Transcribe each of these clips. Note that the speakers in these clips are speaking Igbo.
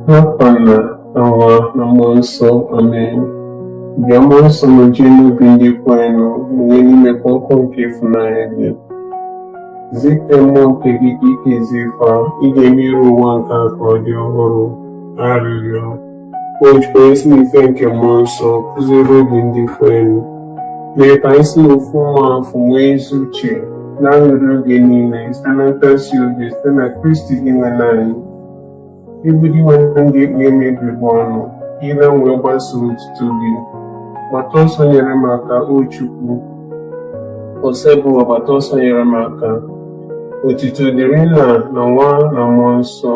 N'afa Nna na Nwa na mmụọ nsọ amen bịa mmụọ nsọ nojue n'obi ndị kwerenụ mụnye n'ime fa ọkụ nke ịfụnanya gị zite mmụọ nke gị ka e kezie fa ị ga-eme iru ụwa nke a ka ọ dị ọhụrụ arịrịọ O Chukwu i si n'ife nke mmụọ nsọ kụziere obi ndị kwerenụ, mee ka anyị si n'ofu mmụọ afụ nwee ezi uche na aṅụrị oge niile site na ntasi obi site na Kristi Dinwenụ anyị. Ị bụ Dinwenụ m ga-ekpughe m egbugbere ọnụ, ire m wee gbasaa otuto gị. Gbata ọsọ nyere m aka, O Chukwu. Osebụwa gbata ọsọ nyere m aka. Otito dịrị Nna na Nwa na Mmụọ Nsọ,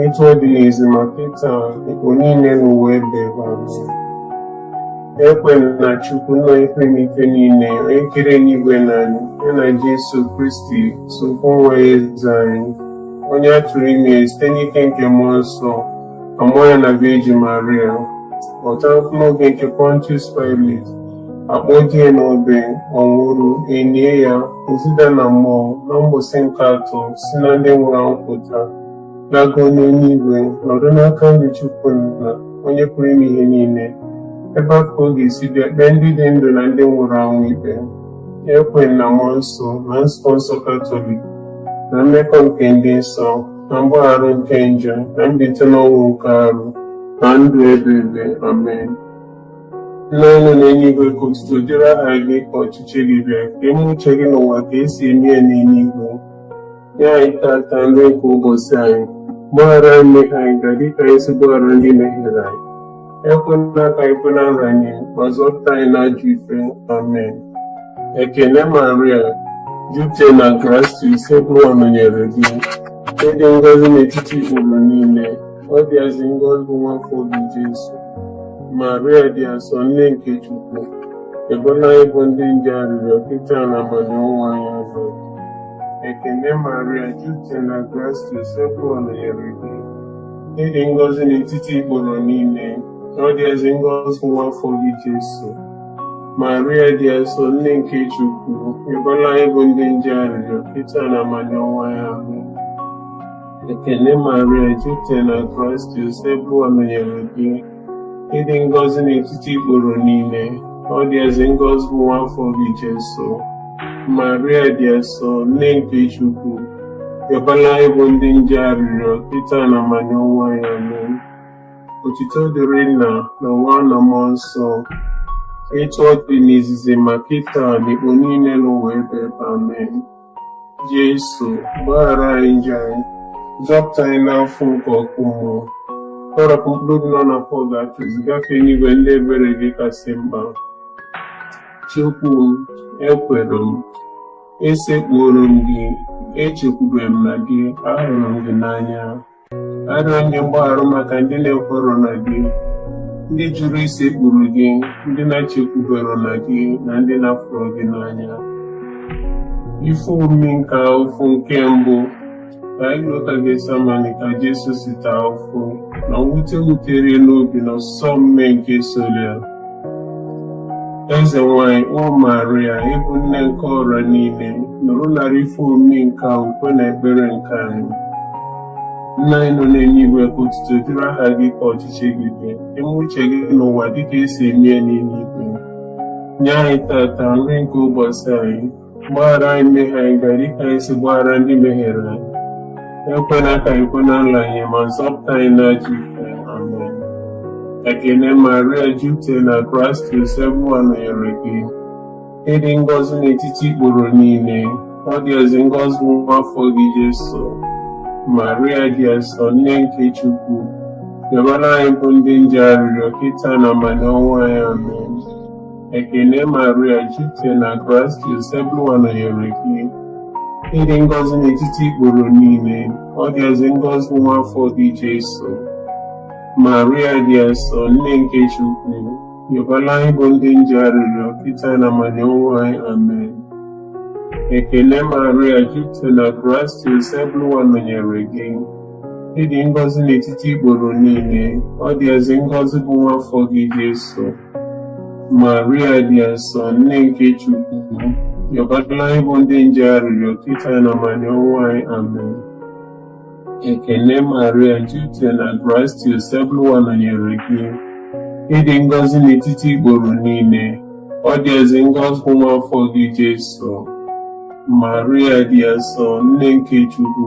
etu ọ dị n'izizi ma kịta n'ekpo niile n'ụwa ebebe Ekwe m na Chukwu nna onye pụrụ ime ife niile, onye kere eluigwe na anị, ya na Jesu Kristi sọ ofu nwa ya eze anyị, onye a tụrụ ime site n'ike nke Mmụọ Nsọ, a mụọ ya na Virgin Maria, ọ taa afụfụ n'oge nke Pontius Pilate, a kpọdo ya n'obe ọ nwụrụ e lie ya o zida na mmụọ na mbọsị nke atọ si na ndị nwụrụ anwụ pụta lago n'elu igwe nọdụ n'aka nri Chukwu nna onye pụrụ ime ihe niile ebe a ka ọ ga-esi bịa kpee ndị dị ndụ na ndị nwụrụ anwụ ikpe ekwe m na mmụọ nsọ na nzukọ nsọ katọlik na mmekọ nke ndị nsọ na mgbaghara nke njọ na mbite n'ọnwụ nke arụ na ndụ ebebe amen Nna anyị nọ n'eluigwe ka otuto dịrị aha gị ka ọchịchị gị bịa ka e mee uche gị n'ụwa ka e si eme ya n'eluigwe nye anyị tata nri nke ụbọchị anyị gbaghara anyị mmehie anyị ga dịka anyị si gbaghara ndị mehiere anyị ekwela ka anyị kwe na nranye ma zọpụta anyị n'ajọ ife amen ekene maria jupụta na grasia osebụwa nọnyere gị ị dị ngọzi n'etiti ikporo niile Ọ dị ezi ngọzi nwa afọ gị Jesu, Maria dị asọ nne nke Chukwu, yọbara anyị bụ ndị njọ arịrịọ kịta na amanị ọnwụ anyị amen. Ekene Maria jupụta na grasia Osebụwa nọnyere gị. Ị dị ngọzi n'etiti ikporo niile, ọ dị ezi ngọzi nwa afọ gị Jesu. Maria dị asọ nne nke Chukwu, yọbara anyị bụ ndị njọ arịrịọ kịta na amanị ọnwụ anyị amen. Ekene Maria jupụtara na grasia Osebụlụwa nọnyere gị ị dị ngọzi n'etiti ikporo niile ọ dị ezi ngọzi bụ nwa afọ gị Jesu Maria dị asọ nne nke Chukwu yọbara anyị bụ ndị njọ arịrịọ kịta na amanị ọnwụ anyị amen otito dịrị nna na nwa na mmụọ nsọ etu ọ dị n'izizi ma kịta na ikpo niile n'ụwa ebe ebe amen Jesu, gbaghara anyị njọ anyị, zọpụta anyị n'afụfụ nke ọkụ mmụọ. Kpọrọpụ mkpụrụ obi nọ na pọgatọrị gafee n'igwe ndị ebere gị kasị mkpa. Chukwu m, ekwere m, esekpuoro m gị, echekwube m na gị, ahụrụ m gị n'anya. arịọ m gị mgbaghara maka ndị na-ekwerọ na gị ndị jụrụ isekpuru gị ndị na-echekwuberọ na gị na ndị na-afụrọ gị n'anya ife omimi nke afụfụ nke mbụ ka anyị lota Getsemani ka Jesu si taa afụfụ na mwute wutere n'obi na ọsọ mmee nke sọlụ ya Eze nwanyị, O Maria, ị bụ nne nke ọra niile, nụrụ nara ife omimi nke a ukwe na ekpere nke anyị. Nna anyị nọ n'enuigwe ka otuto dịrị aha gị ka ọchịchị gị bịa, ka e mee uche gị n'ụwa dịka e si eme ya n'eluigwe. Nye anyị tata nri nke ụbọsị anyị gbaghara anyị mmehie anyị ga dịka anyị si gbaghara ndị mehiere anyị ekwela ka anyị kwe na nlanye ma zọpụta anyị n'ajọ ihe amen ekene maria jupụta na grasia Osebụlụwa nọnyere gị ị dị ngọzi n'etiti ikporo niile ọ dị ezi ngọzi nwa afọ gị Jesu maria dị asọ nne nke chukwu yọbara anyị bụ ndị njọ arịrịọ kịta na amanị ọnwụ anyị amen Ekene Maria jupụta na grasia Osebụlụwa nọnyere gị ị dị ngọzi n'etiti ikporo niile ọ dị ezi ngọzi nwa afọ gị Jesu Maria dị asọ nne nke Chukwu yọbara anyị bụ ndị njọ arịrịọ kịta na amanị ọnwụ anyị amen ekene Maria jupụta na grasia Osebụlụwa nọnyere gị ị dị ngọzi n'etiti ikporo niile ọ dị ezi ngọzi bụ nwa afọ gị Jesu Maria dị asọ nne nke Chukwu yọbara anyị bụ ndị njọ arịrịọ kịta na amanị ọnwụ anyị amen ekene Maria jupụtara na grasia Osebụlụwa nọnyere gị ị dị ngọzi n'etiti ikporo niile ọ dị ezi ngọzi bụ nwa afọ gị Jesu Maria dị asọ nne nke Chukwu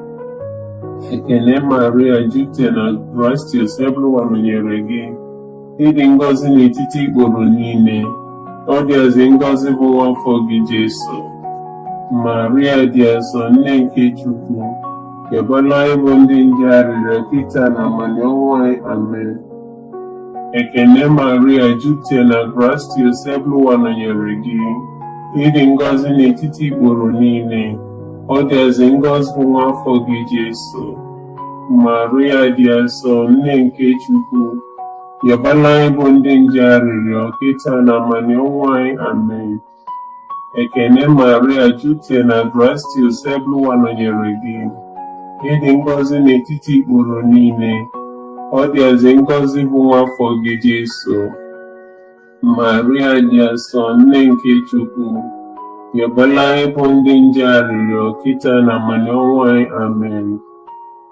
Ekene Maria jupụta na grasia Osebụlụwa nọnyere gị ị dị ngọzi n'etiti ikporo niile ọ dịazị ngọzi bụ nwa afọ gị Jesu Maria dị asọ nne nke Chukwu yọbalụ anyị bụ ndị njọ arịrịọ kịta na amanị ọnwụ anyị amen Ekene Maria jupụta na grasia Osebụlụwa nọnyere gị ị dị ngọzi n'etiti ikporo niile ọ dịazị ngọzi bụ nwa afọ gị Jesu Maria dị asọ nne nke Chukwu yọbalụ anyị bụ ndị njọ arịrịọ kịta na amanị ọnwụ anyị amen Ekene Maria jupute na grasia Osebụlụwa nọnyere gị. Ị dị ngọzi n'etiti ikporo niile. Ọ dịazị ngọzi bụ nwa afọ gị Jesu. Maria dị asọ nne nke Chukwu. Yọbalụ anyị bụ ndị njọ arịrịọ kịta na amanị ọnwụ anyị. Amen.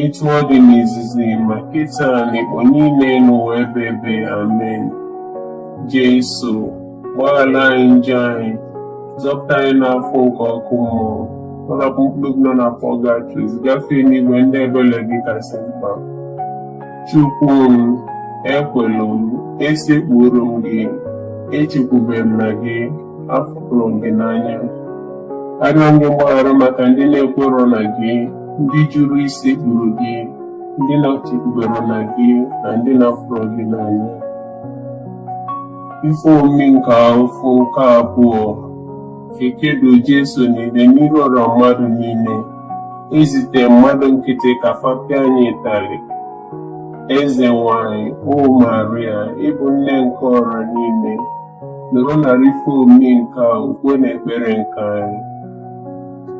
etu ọ dị n'izizi ma kịta n'ikpo niile n'ụwa ebe ebe amen Jesu gbaghara anyị njọ anyị zọpụta anyị n'afụfụ nke ọkụ mmụọ napụ mkpụrụ nọ na pọgatọrị gafee n'igwe ndị ebele gị kasị mkpa Chukwu m ekwelu m esekpuru m gị echekwubere m na gị afụrụ m gị n'anya arịọ m gị mgbaghara maka ndị na-ekwerọ na gị ndị jụrụ isekpuru gị ndị na-echekwuberọ na gị na ndị na-afụrọ gị n'anya ife omimi nke ụfụ nke abụọ ekedo Jesu n'ide n'iru ọra mmadụ niile ezite mmadụ nkịtị ka fa pịa ya ịtarị eze nwanyị o Maria ị bụ nne nke ọra niile nọrọ na ife omimi nke a ukwe na ekpere nke anyị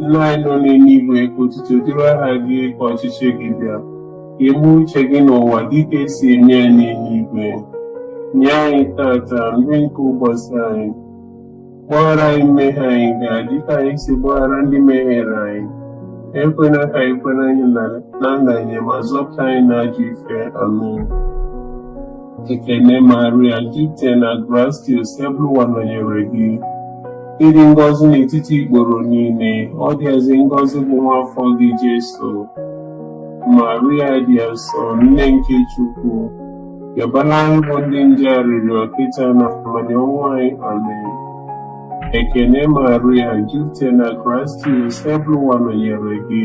nna anyị nọ n'eluigwe ka otuto dịrị aha gị ka ọchịchị gị bịa ka e mee uche gị n'ụwa dịka e si eme ya n'eluigwe nye anyị tata nri nke ụbọchị anyị gbaghara anyị mmehie anyị ga dịka anyị si gbaghara ndị mehiere anyị ekwena ka anyị kwenye na nranye ma zọpụta anyị n'ajọ ife amen Ekene Maria jupụta na grasia Osebụlụwa nọnyere gị ị dị ngọzi n'etiti ikporo niile ọ dịazị ngọzi bụ nwa afọ gị Jesu Maria dị asọ nne nke Chukwu yọbalụ anyị bụ ndị njọ arịrịọ kịta na amanị ọnwụ anyị amen Ekene Maria jupụta na grasia Osebụlụwa nọnyere gị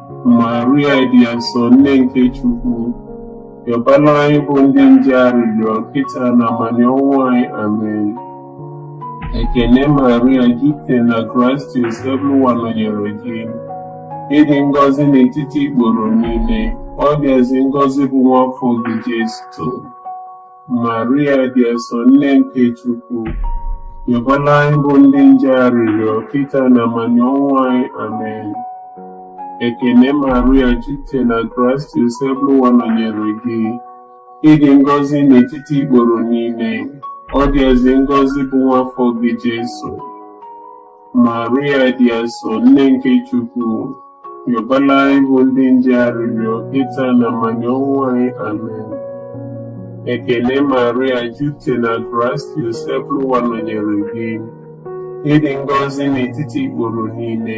Maria dị asọ nne nke Chukwu yọbala anyị bụ ndị njọ arịrịọ kịta na amanị ọnwụ anyị amen ekene Maria jupụta na grasịa Osebụlụwa nọnyere gị ị dị ngọzi n'etiti ikporo niile ọ dịazị ngọzi bụ nwa afọ gị Jesu Maria dị asọ nne nke Chukwu, yọbala anyị bụ ndị njọ arịrịọ kịta na amanị ọnwụ anyị amen. Ekene Maria jupụta na grasịa Osebụlụwa nọnyere gị. Ị dị ngọzi n'etiti ikporo niile, ọ dịazị ngọzi bụ nwa afọ gị Jesu. Maria dị asọ nne nke Chukwu, yọbala anyị bụ ndị njọ arịrịọ kịta na amanị ọnwụ anyị amen. Ekele Maria jupụta na grasịa Osebụlụwa nọnyere gị, ị dị ngọzi n'etiti ikporo niile.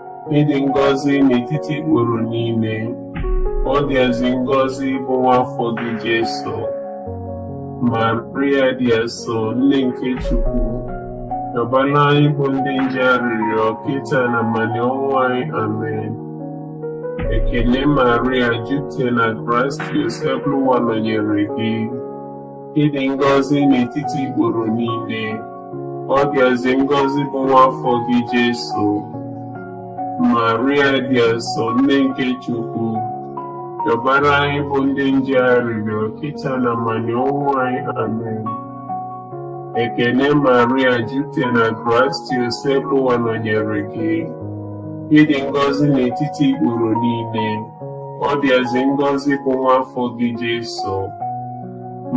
ị dị ngọzi n'etiti ikporo niile ọ dịazị ngọzi bụ nwa afọ gị Jesu Maria dị asọ nne nke Chukwu yọbala anyị bụ ndị njọ arịrịọ kịta na amanị ọnwụ anyị amen ekele Maria jupụta na grasịa Osebụlụwa nọnyere gị ị dị ngọzi n'etiti ikporo niile ọ dịazị ngọzi bụ nwa afọ gị Jesu Maria dị asọ nne nke Chukwu yọbara anyị bụ ndị njọ arịrịọ kịta na amanị ọnwụ anyị amen ekene Maria jupụta na grasịa Osebụlụwa nọnyere gị ị dị ngọzi n'etiti ikporo niile ọ dịazị ngọzi bụ nwa afọ gị Jesu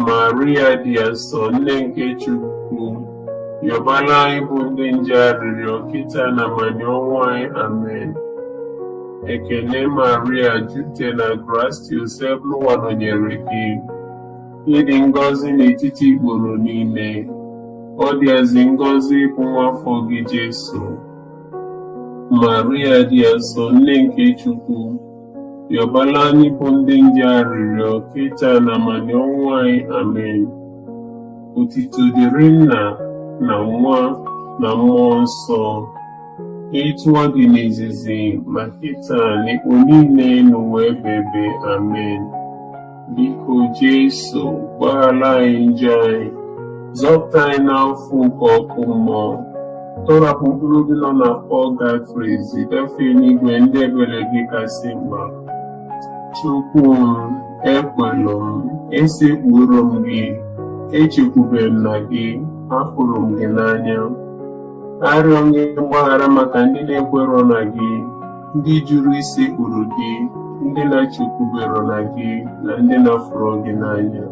Maria dị asọ nne nke Chukwu yọbala anyị bụ ndị njọ arịrịọ kịta na amanị ọnwụ anyị amen ekene Maria jupụta na grasịa Osebụlụwa nọnyere gị ị dị ngọzi n'etiti ikporo niile ọ dịazị ngọzi bụ nwa afọ gị Jesu Maria dị asọ nne nke Chukwu Yọbala anyị bụ ndị njọ arịrịọ kịta na amanị ọnwụ anyị amen otito dịrị nna na nwa na mmụọ nsọ etu ọ dị n'izizi ma kịta na ikpo niile n'ụwa ebebe amen Biko Jesu, gbaghara anyị njọ anyị, zọpụta anyị n'afụfụ nke ọkụ mmụọ. Tọrapụ mkpụrụ obi nọ na pọgatrị ziga fa enigwe ndị ebere gị kasị mkpa. Chukwu m, ekwelụ m, esekpuru m gị, echekwube m na gị, afụrụ m gị n'anya. Arịọ gị mgbaghara maka ndị na-ekwerọ na gị. ndị jụrụ isekpuru gị ndị na-echekwubero na gị na ndị na-afụrọ gị n'anya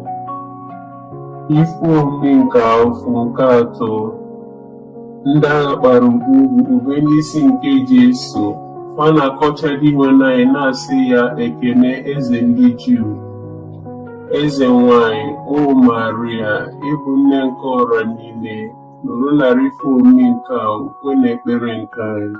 ife omimi nke afụfụ nke atọ ndị agha kpara ogwu kpube n'isi nke Jesu fa na-akọcha Dinwenụ anyị na-asị ya ekene eze ndị Juu eze nwanyị o Maria ị bụ nne nke ọra niile nụrụ narị ife omimi nke a ukwe na ekpere nke anyị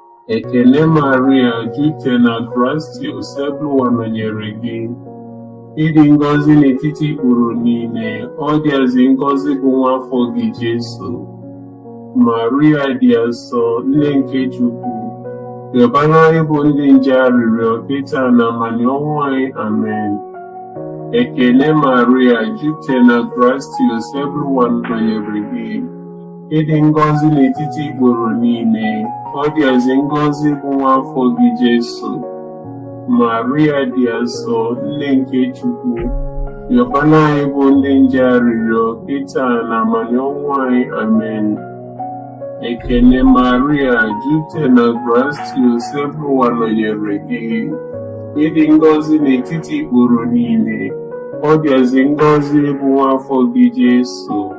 Ekene Maria, jupụta na grasia Osebụlụwa nọnyere gị. Ị dị ngọzi n'etiti ikporo niile, ọ dịazị ngọzi bụ nwa afọ gị Jesu. Maria dị asọ, nne nke Chukwu, yọbara anyị bụ ndị njọ arịrịọ kịta na amanị ọnwụ anyị. Amen. Ekene Maria, jupụta na grasia Osebụlụwa nọnyere gị. ị dị ngọzi n'etiti ikporo niile ọ dịazị ngọzi bụ nwa afọ gị Jesu Maria dị asọ nne nke Chukwu yọbara anyị bụ ndị njọ arịrịọ kịta na amanị ọnwụ anyị amen ekene Maria jupụta na grasia Osebụlụwa nọnyere gị ị dị ngọzi n'etiti ikporo niile ọ dịazị ngọzi bụ nwa afọ gị Jesu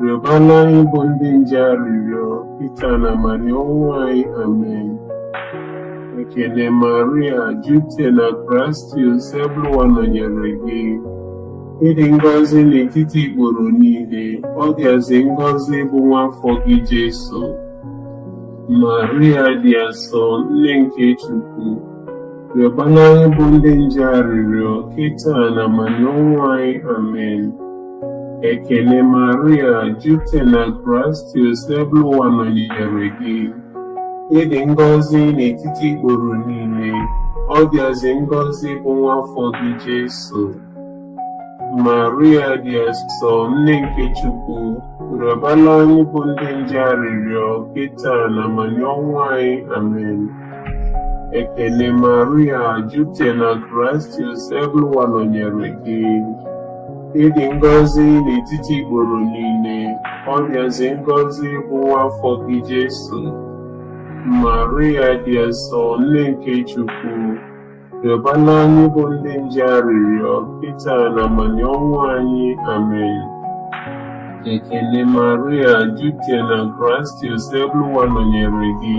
Rịọbara anyị bụ ndị njọ arịrịọ kịta na amanị ọnwụ anyị. Amen. Ekene Maria, jupụta na grasia, Osebụlụwa nọnyere gị. Ị dị ngọzi n'etiti ikporo niile, ọ dịazị ngọzi bụ nwa afọ gị Jesu. Maria dị asọ, nne nke Chukwu, rịọbara anyị bụ ndị njọ arịrịọ kịta na amanị ọnwụ anyị. Amen. Ekene Maria, jupụta na grasia Osebụlụwa nọnyere gị. Ị dị ngọzi n'etiti ikporo niile, ọ dịazị ngọzi bụ nwa afọ gị Jesu. Maria dị asọ, nne nke Chukwu, rịọbara anyị bụ ndị njọ arịrịọ kịta na amanị ọnwụ anyị. Amen. Ekene Maria, jupụta na grasia Osebụlụwa nọnyere gị. ị dị ngọzi n'etiti ikporo niile ọ dịazị ngọzi bụ nwa afọ gị Jesu Maria dị asọ nne nke Chukwu rịọbara anyị bụ ndị njọ arịrịọ kịta na amanị ọnwụ anyị amen ekene Maria jupụta na grasia Osebụlụwa nọnyere gị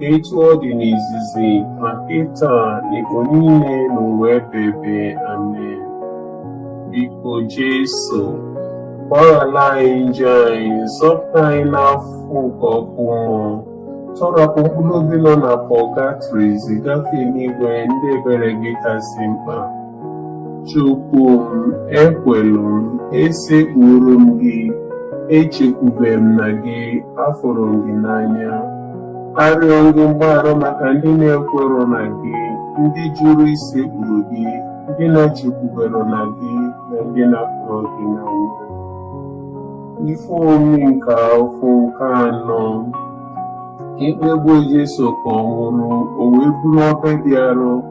Etu ọ dị n'izizi na kịta n'ịgba niile n'ụwa ebebe amen. Biko Jesu, gbaghara anyị njọ anyị, zọpụta anyị n'afụfụ nke ọkụ mmụọ, tọrapụ mkpụrụ obi nọ na pọgatrị, zigafe n'igwe ndị ebere gị kasị mkpa. Chukwu m ekwelu m esekpuru m gị echekwube m na gị afụrụ m gị n'anya arịọ m gị mgbaghara maka ndị na-ekwerọ na gị ndị jụrụ isekpuru gị ndị na-echekwuberọ na gị na ndị na-afụrọ gị n'anya ife omimi nke afụfụ nke anọ ikpegbu Jesu ka ọ nwụrụ o wee buru obe ya dị arọ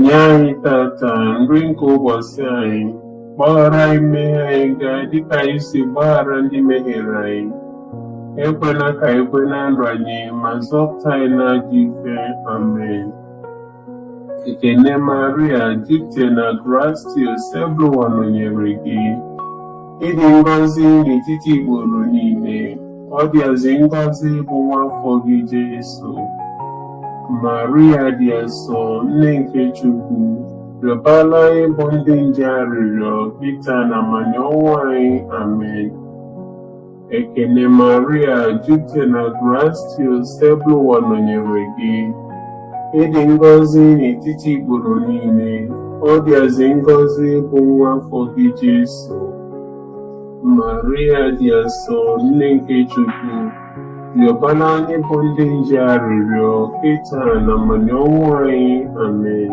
Nye anyị tata nri nke ụbọsị anyị, gbaghara anyị mmehie anyị ga dịka anyị si gbaghara ndị mehiere anyị. Ekwela ka anyị kwe na nranye ma zọpụta anyị n'ajọ ife. Amen. Ekene Maria, jupụtara na grasia, Osebụlụwa nọnyere gị. ị dị ngọzi n'etiti ikporo niile ọ dịazị ngọzi bụ nwa afọ gị Jesu Maria dị asọ nne nke Chukwu rịọbala anyị bụ ndị njọ arịrịọ kịta n'amanị ọnwụ anyị amen Ekene Maria, jupụta na grasia, Osebụlụwa nọnyere gị. Ị dị ngọzi n'etiti ikporo niile, ọ dịazị ngọzi bụ nwa afọ gị Jesu. Maria dị asọ, nne nke Chukwu, rịọbala anyị bụ ndị njọ arịrịọ, kịta n'amanị ọnwụ anyị. Amen.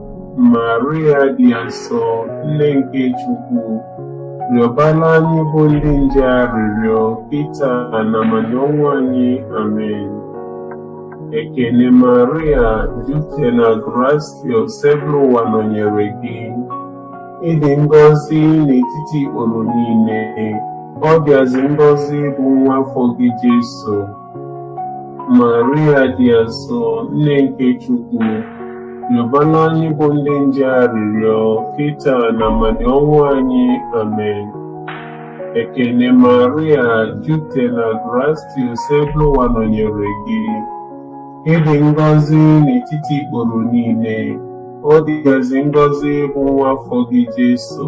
Maria dị asọ, nne nke Chukwu, rịọbara anyị bụ ndị njọ arịrịọ kịta n'amanị ọnwụ anyị. Amen. Ekene Maria, jupụta na grasia, Osebụlụwa nọnyere gị. Ị dị ngọzi n'etiti ikporo niile, ọ dịazị ngọzi bụ nwa afọ gị Jesu. Maria dị asọ, Nne nke Chukwu, rịọbara anyị bụ ndị njọ arịrịọ kịta n'amanị ọnwụ anyị. Amen. Ekene Maria, jupụtara na grasia Osebụlụwa nọnyere gị. Ị dị ngọzi n'etiti ikporo niile, ọ dịazị ngọzi bụ nwa afọ gị Jesu.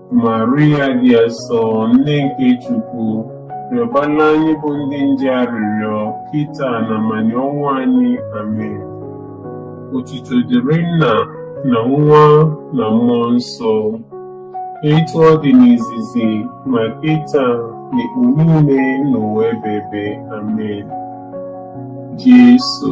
Maria dị asọ nne nke Chukwu rịọbara anyị bụ ndị njọ arịrịọ kịta na amanị ọnwụ anyị amen otuto dịrị nna na nwa na mmụọ nsọ etu ọ dị n'izizi ma kịta n'ọkpụ niile n'ụwa ebebe amen Jesu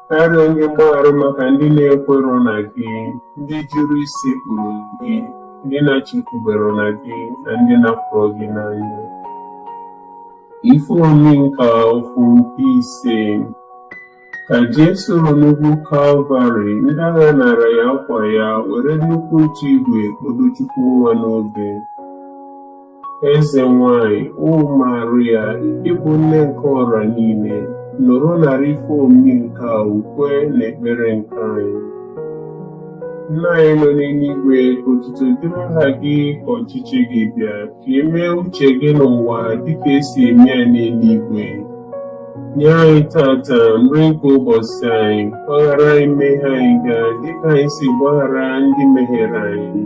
arịọ gị mgbaghara maka ndị na-ekwero na gị ndị jụrụ isekpuru gị ndị na-echekwubero na gị na ndị na-afụrọ gị n'anya ife omimi nke ụfụ nke ise ka Jesu ruru n'ugwu Kalvarị ndị agha nara ya akwa ya were nnukwu ntu igwe kpọdo Chukwu nwa n'obe Eze nwanyị, O Maria, ị bụ nne nke ọra niile, nụrụ narị ife omimi nke ukwe na ekpere nke anyị. Nna anyị nọ n'enuigwe, otuto dịrị aha gị ka ọchịchị gị bịa, ka e mee uche gị n'ụwa dịka e si eme ya n'enuigwe. Nye anyị tata nri nke ụbọsị anyị, gbaghara anyị mmehie anyị ga dịka anyị si gbaghara ndị mehiere anyị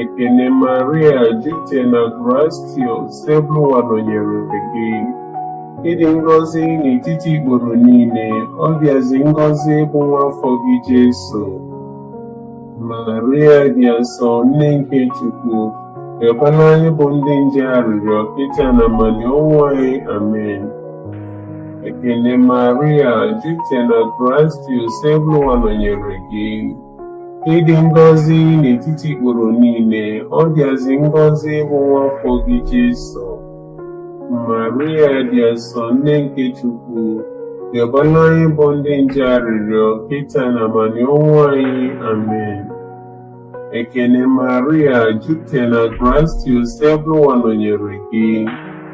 Ekene Maria jupụta na grasia Osebụrụwa nọnyere gị ị dị ngọzi n'etiti ikporo niile ọ dịazi ngọzi bụ nwa afọ gị Jesu Maria dị asọ nne nke Chukwu rịọbara anyị bụ ndị njọ arịrịọ kịta na amanị ọnwụ anyị amen Ekene Maria jupụta na grasia Osebụrụwa nọnyere gị Ị dị ngọzi n'etiti ikporo niile, ọ dịazị ngọzi bụ nwa afọ gị Jesu. Maria dị asọ nne nke Chukwu, rịọbara anyị bụ ndị njọ arịrịọ kịta na amanị ọnwụ anyị. Amen. Ekene Maria, jupụtara na grasia, Osebụrụwa nọnyere gị.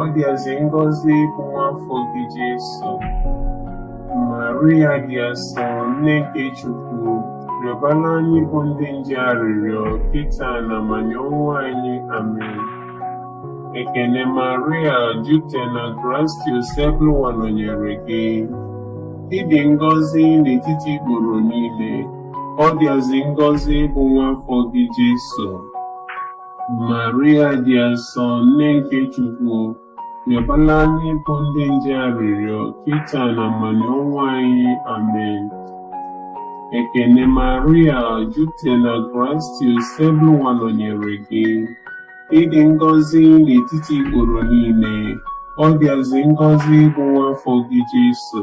ọ dịazị ngọzi bụ nwa afọ gị Jesu. Maria dị asọ, nne nke Chukwu, rịọbara anyị bụ ndị njọ arịrịọ kịta na amanị ọnwụ anyị. Amen. Ekene Maria, jupụta na grasia, Osebụrụwa nọnyere gị. Ị dị ngọzi n'etiti ikporo niile, ọ dịazị ngọzi bụ nwa afọ gị Jesu. Maria dị asọ nne nke Chukwu rịọbara anyị bụ ndị njọ arịrịọ kịta na amanị ọnwụ anyị amen ekene maria jupụta na grasia Osebụrụwa nọnyere gị ị dị ngọzi n'etiti ikporo niile ọ dịazi ngọzi bụ nwa afọ gị Jesu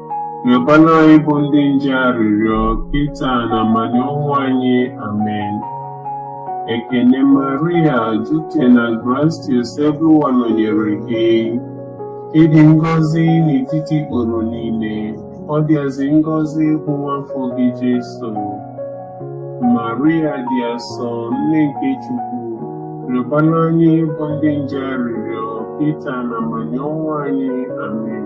Rịọkwara anyị bụ ndị njọ arịrịọ kịta n'amanị ọnwụ anyị. Amen. Ekene Maria, jupụta na grasịa, Osebrụwa nọnyere gị. Ị dị ngọzi n'etiti ikporo niile, ọ dịazị ngọzi bụ nwa afọ gị Jesu. Maria dị asọ, nne nke Chukwu, rịọkwara anyị bụ ndị njọ arịrịọ kịta n'amanị ọnwụ anyị. Amen.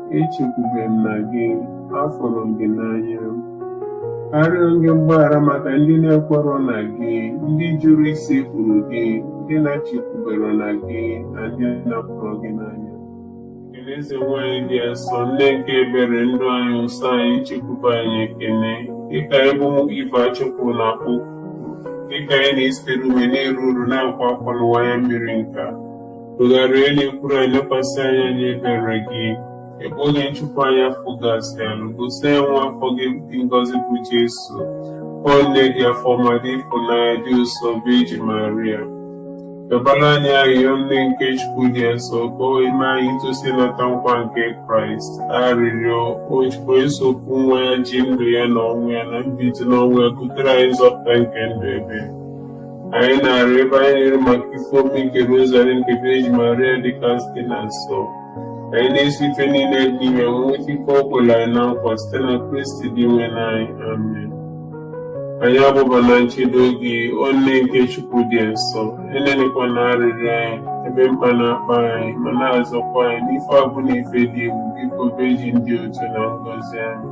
echekwube m na gị afụrụ m gị n'anya arịọ m gị mgbaghara maka ndị na-ekwerọ na gị ndị jụrụ isekpuru gị ndị na-echekwuberọ na gị na ndị na-afụrọ gị n'anya Ekene Eze nwanyị dị asọ nne nke ebere ndụ anyị ụsọ anyị nchekwube anyị ekene gị ka anyị bụ ụmụ Ive achụpụ na-akpọku gị ka anyị na-esitere ume na-eru uru na-akwa akwa n'ụwa anya mmiri nka Tụgharịa ọnụ na-ekwuru anyị lekwasị anyị anya ebere gị. Mgbe oge nchụpụ anyị afụ gasịa, gosi anyị nwa afọ gị dị ngọzi bụ Jesu. O nne dị afọ ọma dị ịfụnanya dị ụsọ bụ Vejin Maria. Rịọbara anyị arịrịọ nne nke Chukwu dị nsọ ka o wee mee anyị itosi ịnata nkwa nke Kraịst. Arịrịọ o Chukwu onye sọ ofu nwa ya ji ndụ ya na ọnwụ ya na mbilite n'ọnwụ ya butere anyị nzọpụta nke ndụ ebe. Anyị na-arịọ ebe anyị na-ero maka ife omi nke rozari nke Virgin Maria dịkasịrị nsọ. Anyị na-eso ife niile dị n'ime nweta ife o kwere anyị na nkwa site na Kristi Dinwenụ anyị. Amen. Anyị agbaba na nchedo gị, o nne nke Chukwu dị nsọ, enenikwana arịrịọ anyị, ebe mkpa na-akpa anyị, ma na-azọkwa anyị n'ife ọbụna ife dị egwu, biko Virgin dị otito na ngọzi. Amen.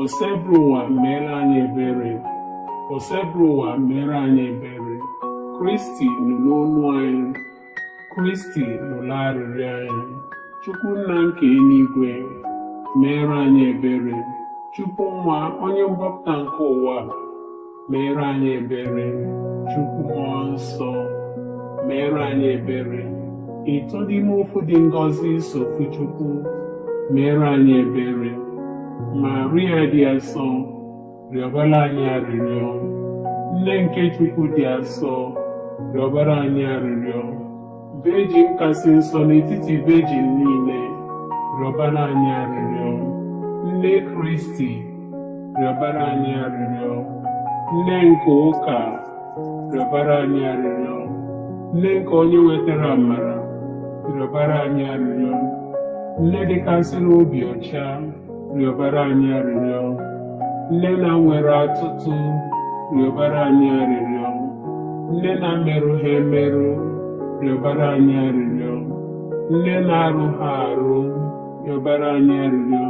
Osebrụwa meere anyị ebere Osebrụwa meere anyị ebere Kristi nụrụ olu anyị Kristi nụrụ arịrịọ anyị Chukwu nna nke eluigwe meere anyị ebere Chukwu nwa onye mgbapụta nke ụwa meere anyị ebere chukwu mmụọ nsọ meere anyị ebere ịtọ n'ime ofu dị ngọzi sọ ofu chukwu meere anyị ebere maria dị asọ rịọbara anyị arịrịọ nne nke chukwu dị asọ rịọbara anyị arịrịọ Vejin kasị nsọ n'etiti vejin niile, rịọbara anyị arịrịọ. Nne Kristi, rịọbara anyị arịrịọ. Nne nke ụka, rịọbara anyị arịrịọ. Nne nke onye wetara amara, rịọbara anyị arịrịọ. Nne dịkasịrị obi ọcha, rịọbara anyị arịrịọ nne na-enwerọ atụtụ rịọbara anyị arịrịọ nne na-emerụha emerụ rịọbara anyị arịrịọ nne na-arụha arụ rịọbara anyị arịrịọ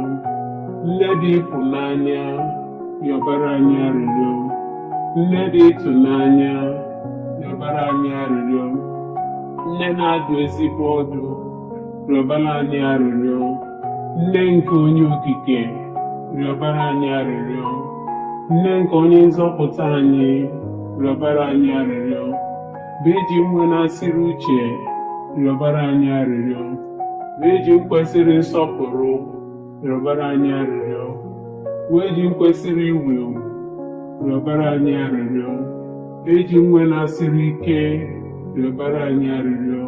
nne dị ịfụnanya rịọbara anyị arịrịọ nne dị ịtụnanya rịọbara anyị arịrịọ nne na-adụ ezigbo ọdụ rịọbara anyị arịrịọ nne nke onye okike rịọbara anyị arịrịọ nne nke onye nzọpụta anyị rịọbara anyị arịrịọ vejin nwenasịrị uche rịọbara anyị arịrịọ vejin kwesịrị nsọpụrụ rịọbara anyị arịrịọ vejin kwesịrị iwu ewu rịọbara anyị arịrịọ vejin nwenasịrị ike rịọbara anyị arịrịọ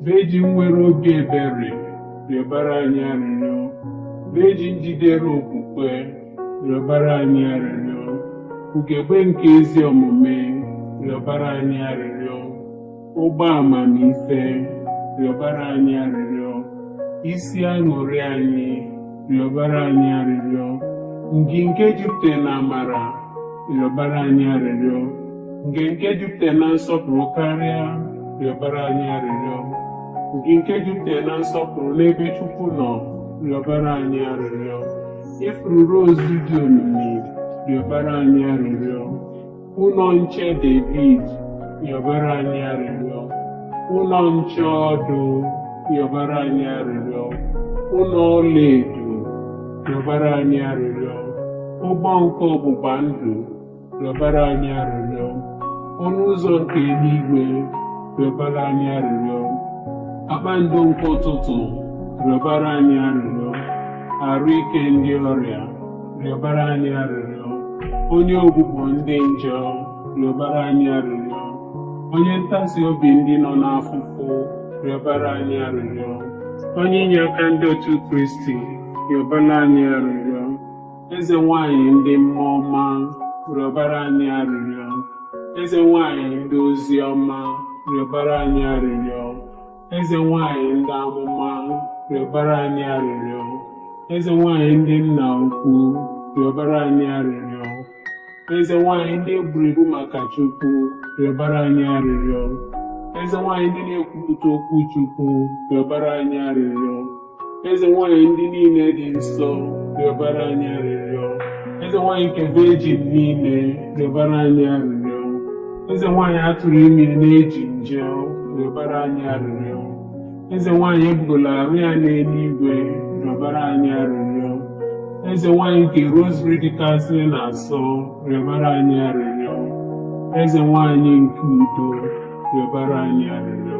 Vejin nwere obi ebere rịọbara anyị arịrịọ. Vejin jidere okwukwe rịọbara anyị arịrịọ. Ugegbe nke ezi omume rịọbara anyị arịrịọ. Ukpo amamife rịọbara anyị arịrịọ. Isi aṅụrị anyị rịọbara anyị arịrịọ ngị nke jupụtara na amara rịọbara anyị arịrịọ ngị nke jupụtara na nsọpụrụ karịa rịọbara anyị arịrịọ ngị nke jupụtara na nsọpụrụ n'ebe Chukwu nọ rịọbara anyị arịrịọ ifuru rozu dị omimi rịọbara anyị arịrịọ Ụnọ nche Devid, rịọbara anyị arịrịọ. Ụnọ nche ọdụ, rịọbara anyị arịrịọ. Ụnọ ọlaedo, rịọbara anyị arịrịọ. Ụgbọ nke ọgbụgba ndụ, rịọbara anyị arịrịọ. Ọnụ ụzọ nke enuigwe, rịọbara anyị arịrịọ. Kpakpando nke ụtụtụ, rịọbara anyị arịrịọ. Arụ ike ndị ọrịa, rịọbara anyị arịrịọ onye ogbugbo ndị njọ rịọbara anyị arịrịọ onye ntasi obi ndị nọ n'afụfụ rịọbara anyị arịrịọ onye inye aka ndị otu kristi rịọbara anyị arịrịọ eze nwanyị ndị mmụọ ọma rịọbara anyị arịrịọ eze nwanyị ndị ozi ọma rịọbara anyị arịrịọ Eze nwanyị ndị amụma rịọbara anyị arịrịọ. Eze nwanyị ndị nna ukwu rịọbara anyị arịrịọ. Eze nwanyị ndị e gburu egbu maka Chukwu rịọbara anyị arịrịọ. Eze nwanyị ndị na-ekwupụta okwu Chukwu rịọbara anyị arịrịọ. eze nwanyị ndị niile dị nsọ rịọbara anyị arịrịọ eze nwanyị nke vejin niile rịọbara anyị arịrịọ eze nwanyị atụrụ ime n'ejighi njọ rịọbara anyị arịrịọ eze nwanyị ebugola arụ ya n'eluigwe rịọbara anyị arịrịọ eze nwanyị nke rosary dịkasị na asọ rịọbara anyị arịrịọ eze nwanyị nke udo rịọbara anyị arịrịọ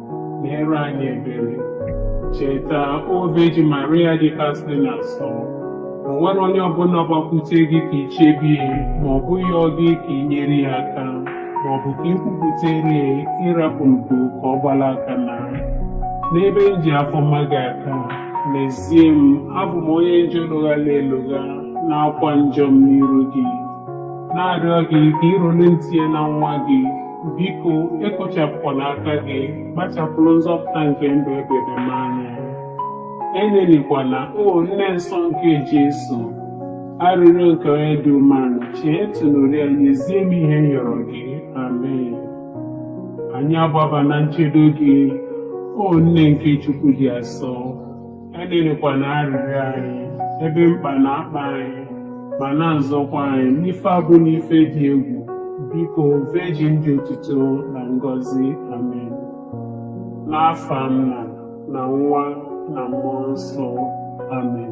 meere anyị ebere cheta o vejin maria dị kasị na asọ o nwerọ onye ọbụla gbakwute gị ka i chebe ya ma ọ bụ yọọ gị ka ị nyere ya aka ma ọ bụ ka i kwupụtere ya ị rapụ ndo ka ọ gbala aka naa n'ebe m ji afọ ọma gị aka n'ezie m abụ m onye njọ lụghala elụgha na-akwa njọ m n'iru gị na-arịọ gị ka ịrụrụ ntị na nwa gị Biko, ekpochapụkwala aka gị, kpachapụrụ nzọpụta nke ndụ ebebe m anya. Enelikwana, O Nne Nsọ nke Jesu, arịrịọ nke onye dị umeala, chee ntị nụrụ ya nyezie m ihe m yọrọ gị. Amen. Anyị agbaba na nchedo gị, O Nne nke Chukwu dị asọ. enelikwana arịrịọ anyị ebe mkpa na-akpa anyị ma na-azọkwa anyị n'ife abụ n'ife dị egwu biko vejin dị otuto na ngọzi amen n'afa nna na nwa na mmụọ nsọ amen